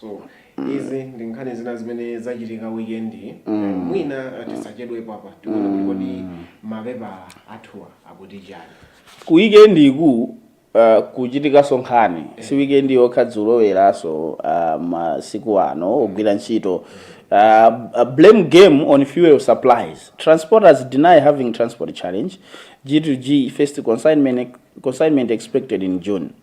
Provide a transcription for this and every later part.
so izi ndi nkhani zina zimene zachitika weekend iyi. Eh, mwina eh, tisachedwepo apa tione kuti kodi mapepala athuwa akuti chani ku weekend iku uh, kuchitikaso nkhani si weekend yokha dzulo leronso uh, masiku ano ogwira ntchito uh, uh, blame game on fuel supplies transporters deny having transport challenge g2g first consignment, consignment expected in june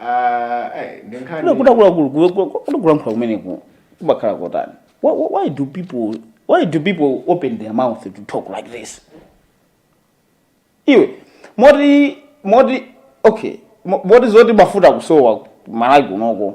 Ah, eh, ndi nkhani- Kule kudakula kulu kule kule kule kulankhula kumeneku kubakhala kotani. Why, why why do people why do people open their mouth to talk like this? Iwe moti moti okay mo- moti zoti mafuta kusowa malaki kunoko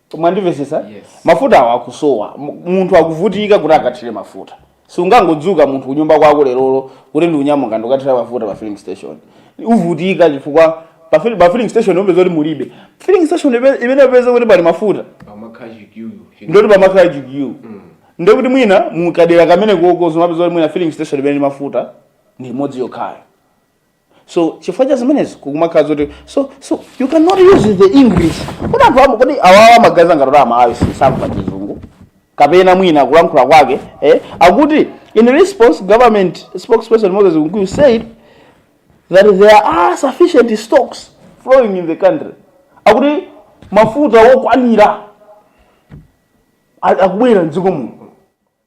mwandimvetsetsa Yes. mafuta awo akusowa Mu- munthu akuvutika kuti akathire mafuta siungangodzuka munthu kunyumba kwako lerolo kuti ndikunyamuka ndikukathira mafuta pa filling station uvutika chifukwa pa fil- pa filling station upeza kuti mulibe filling station ipe- imene upeza kuti pali mafuta pamakhala chikiyu ndoti pamakhala chikiyu ndiye kuti mwina mukadera kamene koko umapeza kuti mwina filling station imene ili ndi mafuta ndi imodzi yokhayo so chifukwa cha zimenezi kumakhala zoti so so you cannot use the english kodi anthu amu kodi awawa amaganiza ngati amalawi sakumva chizungu kapena mwina kulankhula kwake eh? akuti in response government spokesperson moses kunkuyu said that there are sufficient stocks flowing in the country akuti mafuta wokwanira a- akubwera mdziko muno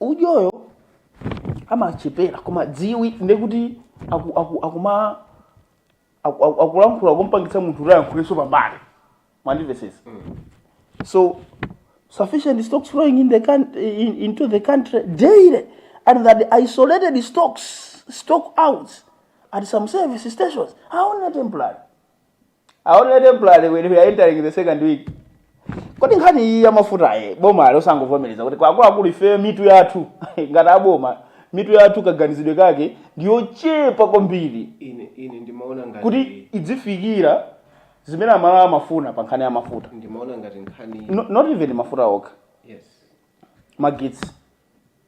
udyowo amachepera koma dziwa ndekuti aku- aku- akuma aku- aku- akulankhula kumpangitsa munthu kuti ayankhulenso pambali mwandimvesesa so sufficient stocks flowing in the coun- in, into the country daily and that the isolated stocks stock outs at some service stations are only temporary are only temporary when we are entering the second week kodi nkhani iyi ya mafuta iyi bomali osangovomereza kuti kwa akuluakulu ife mitu yathu ngati aboma mitu yathu kaganizidwe kake ndiyochepa kwambiri ine ine ndimaona ngati kuti idzifikira zimene amalawi amafuna pa nkhani ya mafuta ndimaona ngati nkhani no, not even mafuta okha yes magetsi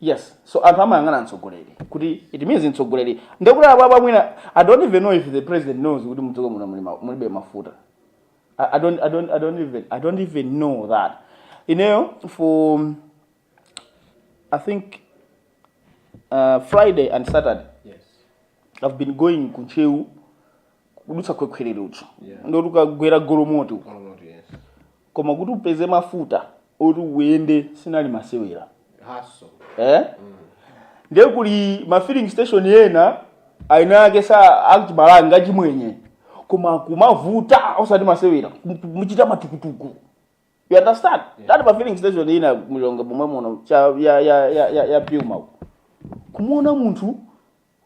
Yes, so anthu amayang'ana mtsogoleri kuti it means mtsogoleri ndekuti apapa mwina I don't even know if the president knows kuti mdziko muno muli ma- mulibe mafuta I, I don't I don't I don't even I don't even know that ineyo for I think uh, Friday and Saturday Yes. I've been going ku Ntcheu kudutsa Khwekhwerere uko. Yeah. Ndio kukagwera Golomoti uko. All not yes. Koma kuti upeze mafuta oti uyende sinali masewera. Hustle. Eh? Ndiye kuli ma filling station yena maina ake sakuchita balansi chimwenye. Koma kumavuta osati masewera. Muchita matukutuku. you understand that ma filling station ena muLilongwe momwe muno cha ya ya ya ya, ya Puma uko. kumuona munthu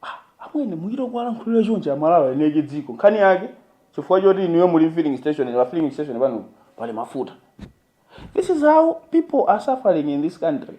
ah, amwene muchita kuwalankhulira chonchi Amalawi eni ake dziko nkhani yake chifukwa choti inuyo muli filling station pa filling station pano pali mafuta this is how people are suffering in this country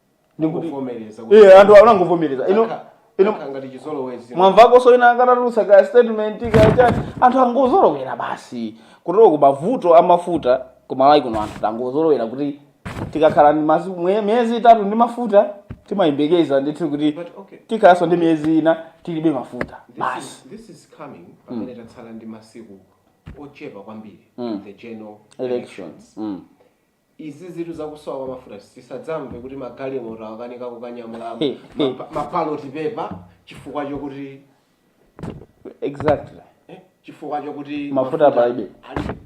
ndikuti Ndikuvomereza kuti- iye anthu anangovomereza ino Aka- ino aka ngati chizolowezi mwamvakonso wina atatulutsa ka statement ka chani anthu angozolowera basi kuteroko mavuto amafuta ku Malawi kuno anthu tangozolowera kuti tikakhala ndi masi- mwe- miyezi itatu ndi mafuta timayembekeza ndithu kuti But okay. tikhalanso ndi miyezi ina tilibe mafuta This basi is- this is coming pamene tatsala ndi masiku ochepa kwambiri Mm. the general elections elections Mm. Izizitu zakusowa kwa mafuta tisadzamve kuti magalimoto akanika kukanyamula ma- mabaloti pepa chifukwa chokuti exactly eh, chifukwa chokuti Mafuta palibe. ali-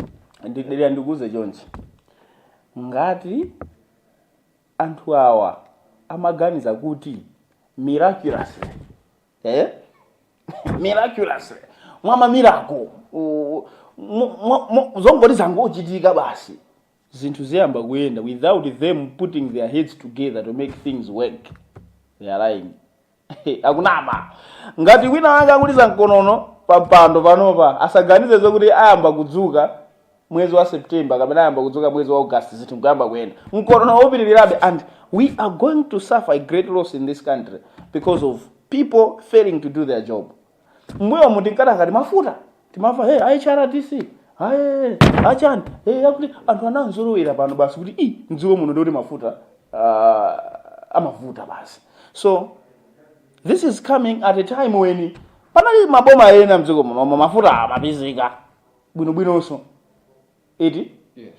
ndidera ndikuuze chonchi ngati anthu awa amaganiza kuti miraculously eh? miraculously mwa mamirako u- mu- mu- mu- zongoti zangochitika basi zinthu ziyamba kuyenda without them putting their heads together to make things work they are lying akunama ngati wina wanga akuliza mkonono pampando panopa asaganize zokuti ayamba kudzuka mwezi wa september kapena ayamba kudzuka mwezi wa august zinthu nkuyamba kuyenda mkonono upitirirabe and we are going to suffer a great loss in this country because of people failing to do their job mbuyomu tinkati ngati mafuta timamva hey, a HRDC aya achani hey, akuti anthu anazolowera pano basi kuti i mdziko muno ndikuti mafuta ah, amavuta basi so this is coming at a time when panali maboma ena mdziko muno ma- mafuta amapezeka bwinobwinonso eti Yes.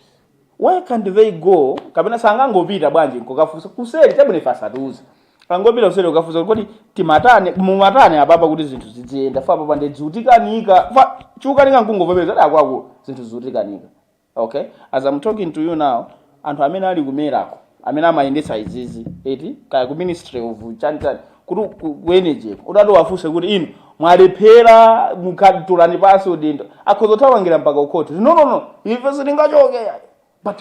why can't they go kapena sangangopita bwanji nkokafunsa kuseri chabwino ife asatiuze angopita kuseri kukafunsa kodi timatani mumatani apapa kuti zinthu zidziyenda ife apapa nde zikutikanika ife chikukanika nkungovomereza ati akwathu zinthu zikutikanika okay as i'm talking to you now anthu amene ali kumeneko amene amayendetsa izizi eti kaya ku ministry of chanitani kuti ku- ku energy utati uwafunse kuti inu mwalephera mukatulani pansi udindo akhoza kuthamangira mpaka kukhoti no no no ife sitingachoke but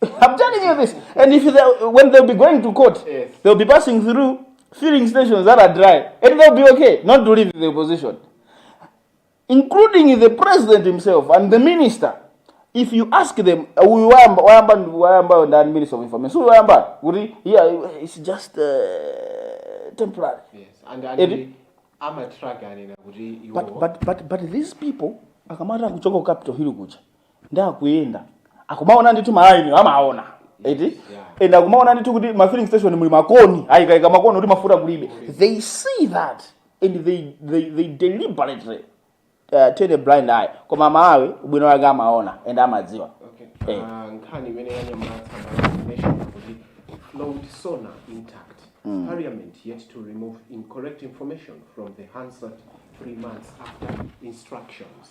I'm telling you this. And if they, when they'll be going to court, Yes. they'll be passing through filling stations that are dry, and they'll be okay. Not to leave their position. including the president himself and the minister if you ask them uh, uyu wayamba wayamba ndi- wayambayo ndani minister of information so uyu wayambayo kuti yeah it's just uh, temporary Yes, and Edi- ali amatrack anena kuti but, iwo but, but, but these people akamati akuchoka ku capital hill kuja nde akuyenda akumaona ndithu malainiwo amaona eti and akumaona ndithu kuti ma filling station muli makoni ayikaika makoni kuti mafuta kulibe they see that and they, they, they deliberately uh, turn a blind eye koma aMalawi ubwino wake amaona and amadziwa Okay. Eh. Ah, nkhani imene yanyamula Nation kuti flawed sona intact parliament yet to remove incorrect information from the hansard three months after instructions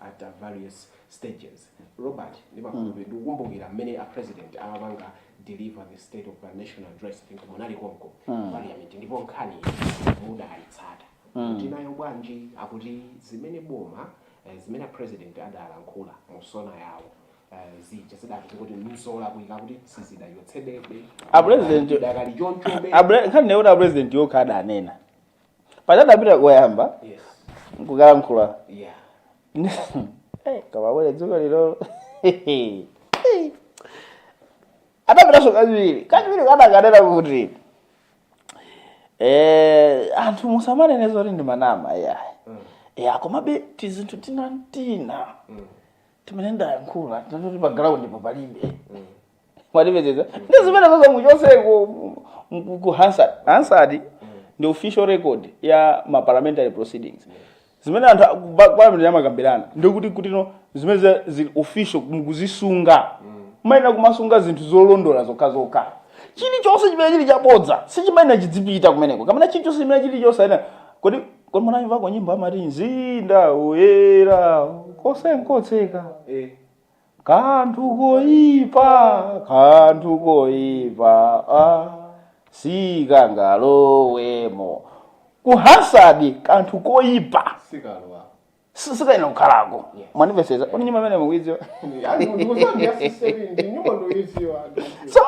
at various stages. Robert ndimakhulupirira ndikukumbukira mmene a president amapanga deliver the state of the nation address think munali konko mm. parliament ndipo nkhani mudaitsata mm. tinayo bwanji akuti zimene boma eh, zimene a president adalankhula mu SONA yawo eh, zija zidati kuti nzolakwika akuti sizidachotsedwebe A president- zidakali chonchobe Abre- nkhani ndi yoti apresident yokha adanena paja adapita koyamba yes nkukalankhula yeah Eh, koma mmene tsiku lilo adapitanso kachiwiri kachiwiri kaja adakanena kuti eh, anthu musamanene zoti ndimanama iyayi ya komabe tizinthu tina ntina timene ndayankhula tina toti pa ground-po palibe mwatimvetsetsa ndi zimene zozo muchotseko ku hansard hansard ndi official record ya ma parliamentary proceedings zimene anthu a- ba- parliament amakambirana ndikuti kutino zimene za- zili official mukuzisunga mayenera kumasunga zinthu zolondola zokhazokha chilichonse chimene chili chabodza sichimayenera chidzipita kumeneko kapena chilichonse chimene chili chosayenera kodi kodi munayimvako nyimbo amati mzinda woyera konse n'kotseka kanthu koipa kanthu koipa ah, sikangalowemo ku Hansard kanthu koipa sikalowa si- sikayenera kukhalako Yeah. mwandipezetsa kuti nyimbo imene mukuidziwa so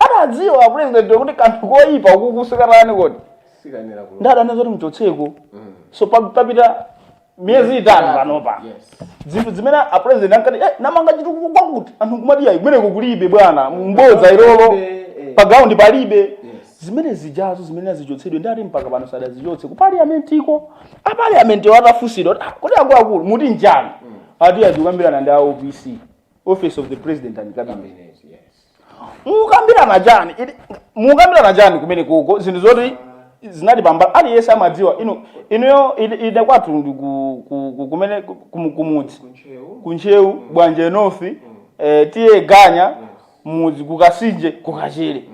adadziwa apulezidenti kuti kanthu koipa uku sikatani kodi sikayenera kulowa nde adanena zoti mchotseko so pa- papita miyezi itatu panopa Yes. zinthu zimene apresident ankati eh, namanga chitukuko kwakuti anthu kumati ayi kumeneko kulibe bwana m'bodza ilolo Eh, pa ground palibe Yes. zimene zijazo zimayenera zichotsedwe nde ati mpaka pano sadazichotse ku parliament iko a parliament atafunsidwa kuti, "Ah, kodi akuluakulu muti chiyani ati adzikambirana ndi a opc office of the president and cabinet mukambirana chani ili- mukambirana chani kumene kuko zinthu zoti zinali pambali aliyense amadziwa inu inuyo ili- ine kwathu ndi ku- ku- ku- kumene ku- ku- kumudzi ku ntcheu bwanje north eh, TA ganya mudzi kukasinje kukachere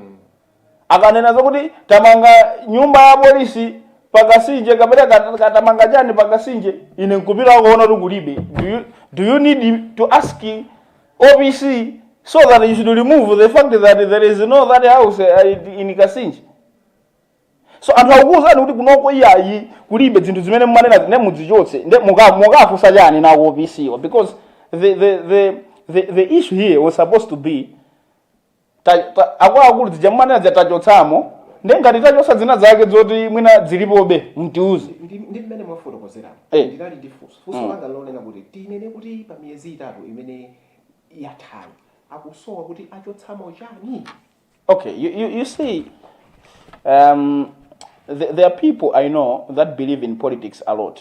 Akanena zokuti tamanga nyumba ya apolisi pa Kasinje kapena ka- ka- tamanga chani pa Kasinje, ine nkupita kuona kuti kulibe. Do you, do you need to ask OPC so that you should remove the fact that there is no that house uh, in Kasinje? so anthu akukuwuzani kuti kunoko iyayi kulibe zinthu zimene mumanenazi nde mudzichotse nde muka- mukafunsa chani nako OPC because the, the, the, the, the issue here was supposed to be ta- ta- akuluakulu zija mumanena zija tachotsamo ndi ngati tachotsa zina zake zoti mwina zilipobe mtiuze ndi ndi mmene mwafotokozeramo Eh. ndinali ndi funso funso Mm. langa lonena kuti tinene kuti pa miyezi itatu imene yathayi akusowa kuti achotsamo chani Okay, you, you, you see, um, th- there are people I know that believe in politics a lot.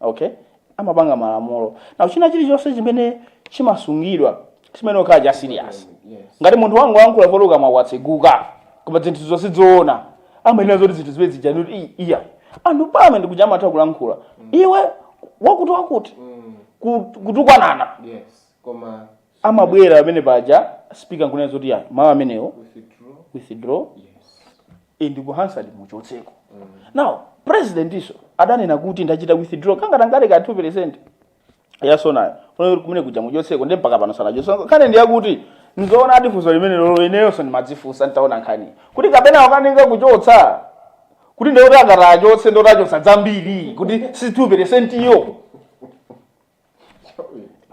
okay amapanga malamulo now china chilichonse chimene chimasungidwa chimayenera kukhala cha serious ngati munthu wangolankhula poti kukamwa kwatseguka koma zinthu zonse zoona amanena zoti zinthu zimene zija noti "Ii, iya anthu parliament kuja amatha kulankhula iwe wakuti wakuti ku- kutukwanana yes koma amabwera pamene paja speaker nkunena zoti ya mawu amenewo withdraw and ku hansard muchotseko now presidentinso adanena kuti ndachita withdraw kangatangale ka 2 percent ya sonayo Funeka kuti kumene kuja muchotseko nde mpaka pano sanachotse so nkhani ndi yakuti ndi zoonadi funso limenelolo ineyonso ndimadzifunsa nditaona nkhani kuti kapena akukanika kuchotsa kuti ndikuti akati achotse ndekuti achotsa zambiri kuti si 2 percent iyo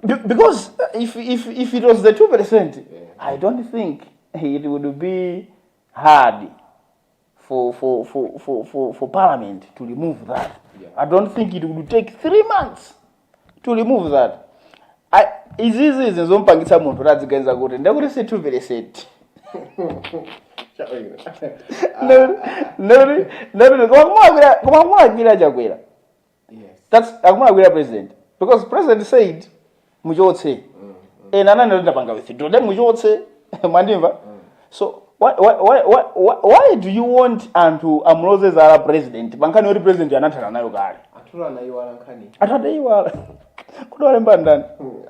Be- because if, if, if it was the 2%, I don't think it would be hard for, for, for, for, for, for Parliament to remove that. Yeah. I don't think it would take three months to remove that. I, izizi izi zompangitsa munthu kuti adziganiza kuti ndekuti si 2%. Ndekuti- ndekuti- ndekuti koma kumulakwira- koma kumulakwira Chakwera That's akumulakwira president because president said muchotse ena ananena kuti ndapanga withdraw then muchotse mwandimva so why, why, why, why, why, why do you want anthu amuloze zala president pankhani yoti president anathana nayo kale anthu anayiwala nkhani anthu adaiwala kuti walemba ndani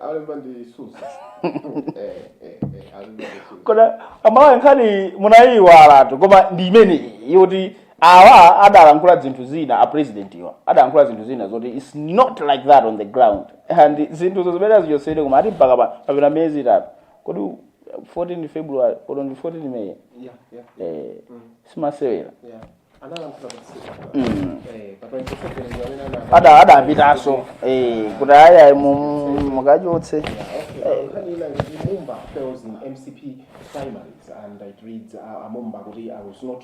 alemba ndi susa alemba ndi susa koma amalawi nkhani munayiwalatu koma ndi imeneyi yoti awa adalankhula zinthu zina a president awa adalankhula zinthu zina zoti its not like that on the ground and zinthuzo zimene azichotsedwe koma ati mpaka pa- papita miyezi itatu kodi 14 february kodi ndi 14 may yeah, yeah, eh, simasewera yeah. analankhula patsiku mm. eh, pa 27 ndi amene ana- ada adapitanso eh, kuti ayi mukachotse Okay, nkhani ina kuti mumba fails in mcp primaries and it reads uh, mumba kuti i was not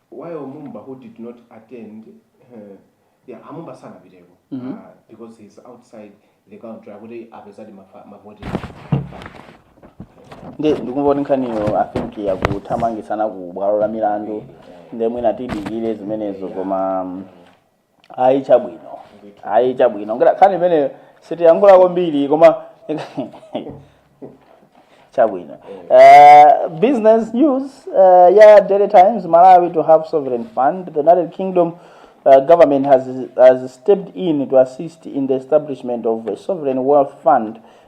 while mumba who did not attend yeah a mumba sanapiteko mm -hmm. uh, because he's outside the country akuti apezadi mavoti nde ndikumva kuti nkhaniyo i think yakuthamangitsana ku bwalo la milandu nde mwina tidikire zimenezo koma ayi chabwino ayi chabwino ngati khani imeneyo sitiyankhula kwambiri koma chabwino uh, business news uh, ya daily times malawi to have sovereign fund the united kingdom uh, government has, has stepped in to assist in the establishment of a sovereign wealth fund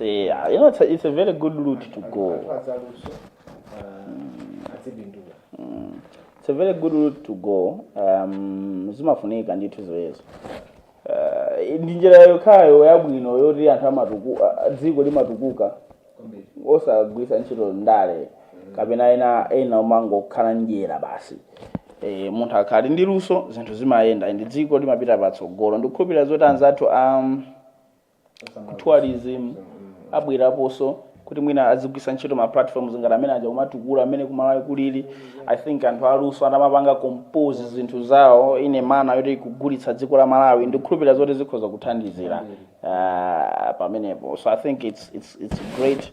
Yeah, you know, it's a, it's a very good route to go. It's a very good route to go. Um, zimafunika ndithu zimenezo. Uh, ndi njira yokhayo yabwino yoti anthu amatuku ah, dziko limatukuka osagwisa ntchito ndale kapena ena ena kumangokhala ndyera basi e, munthu akakhala ndi luso zinthu zimayenda ndi dziko limapita patsogolo ndikukhulupirira zoti anzathu um, tourism abwereponso kuti mwina azigwisa ntchito ma platforms ngati amene aja kumatukula amene kumalawi kulili i think anthu aluso atamapanga compose zinthu zawo in a manner yoti ikugulitsa dziko la malawi ndikukhulupirira zoti zikhoza kuthandizira uh, pamenepo so i think it's, it's, it's great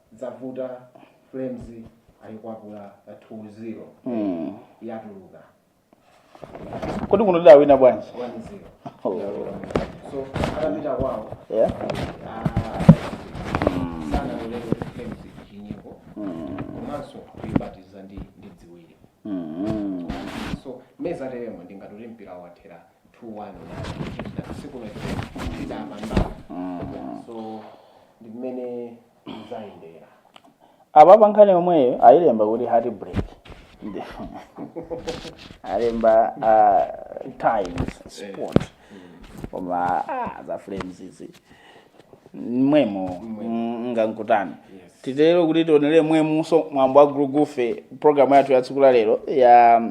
zavuta flames ayikwapula pa 2-0 mm. yatuluka kodi kuno tidawina bwanji 1-0 Oh. so anapita kwawo yeah. sanalolere flames chinyiko mm. komanso kuyibatiza ndi ndi ziwiri mm. so m'mene zateremo ndingatoti mpira wathera apa pankhani yomweyo ayilemba kuti heart break alemba uh, times sport koma ah, za flames izi momwemo mm, nkankutani titero kuti tionere momwemonso mwambo wa gulugufe programu yathu ya tsiku la lero ya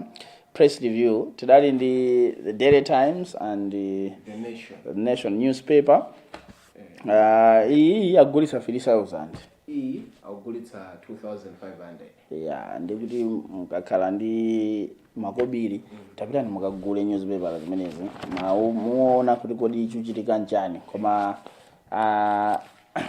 Press review tidali ndi the Daily Times and the The nation. the Nation newspaper uh, iyi akugulitsa 3000 Iyi akugulitsa 2500. ya ndikuti mukakhala ndi makobiri tapitani mukagule newspaper zimenezi mu- muone kuti kodi chikuchitika nchani koma ah,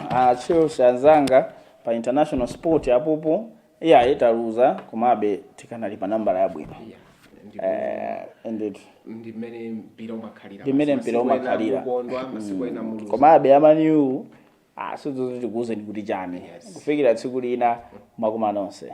a Chelsea anzanga pa international sport apopo Iyayi taluza komabe tikanali pa nambala yabwino. Yeah. Ndipo Eh, indeed. ndi mmene mpira umakhalira. Ndi mmene basi. mpira Masiku ena umakhalira. mukondwa, masiku ena muluza. komabe amaniyu asudzozo tikuwuzeni kuti chani Yes. kufikira tsiku lina mwakoma nonse